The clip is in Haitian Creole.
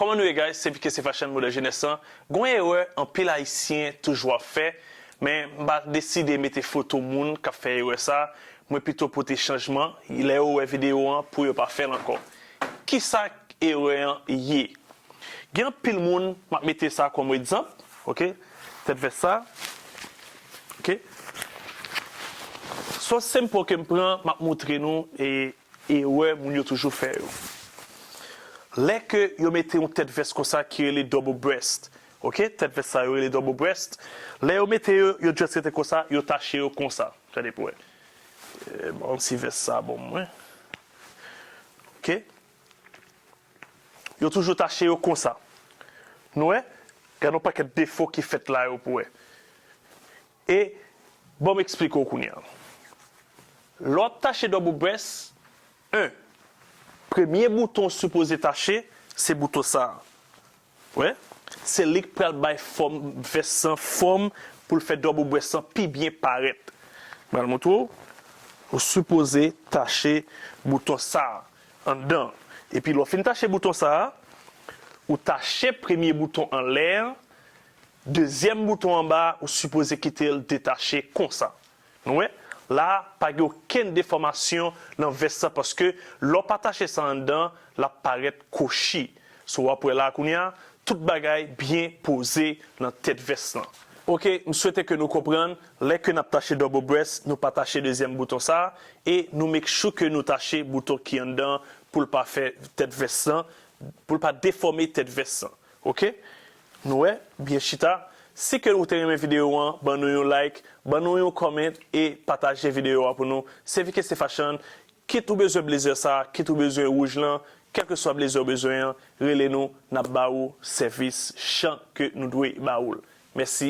Kòman nou ye guys se pkse fashion modèl jenès lan gon erè anpil ayisyen toujou ap fè men m pa deside mete foto moun kap fè erè sa mwen pito pote chanjman lè yo wè video an pou yo pa fèl ankò kisa erè an ye gen anpil moun map mete sa kòm egzanp ok tèt vès sa ok so senpo kem pran map moutre nou Erè moun yo toujou fè yo. Lè ke yo mete yon tèt vès konsa ki rele double breast ok tèt vès sa yo rele double breast lè yo mete yo yo just rete konsa yo tache yo konsa gade pou wè banm si vès sa bon mwen ok yo toujou tache yo konsa nou wè gade yon pakèt defo ki fèt la yo pou wè. E, ban m eksplike w kounye a. Lè w ap tache double breast, 1. Premye bouton w sipoze tache, se bouton sa a. Wè? Se li k pral bay fòm vès lan fòm pou l fè double breast lan pi byen parèt. M pral montre w. Ou sipoze tache bouton sa a, anndan an. Epi lè w fin tache bouton sa a, ou tache premye bouton anlè an, Dezyèm bouton anba a ou sipoze kite l detache konsa. Nou wè, la a pa gen okenn defòmasyon nan vès la paske lè w pa tache sa anndan l ap parèt kwochi. So w ap wè la a kounye a, tout bagay byen poze nan tèt vès lan. Ok, m swete ke nou konprann, lè ke n ap tache double breast nou pa tache dezyèm bouton sa a e nou make sure ke nou tache bouton ki anndan an pou l pa fè tèt vès lan, pou l pa defòme tèt vès lan. Ok. Nou wè, byen chita, si ke ou te renmen video an ban nou yon like, ban nou yon comment e pataje video a pou nou, sevike se fashion, kit ou bezwen blazer sa, kit ou bezwen rouj lan, kelke swa blazer ou bezwen an, rele nou nap ba ou sèvis jan ke nou dwe ba ou l. Mèsi.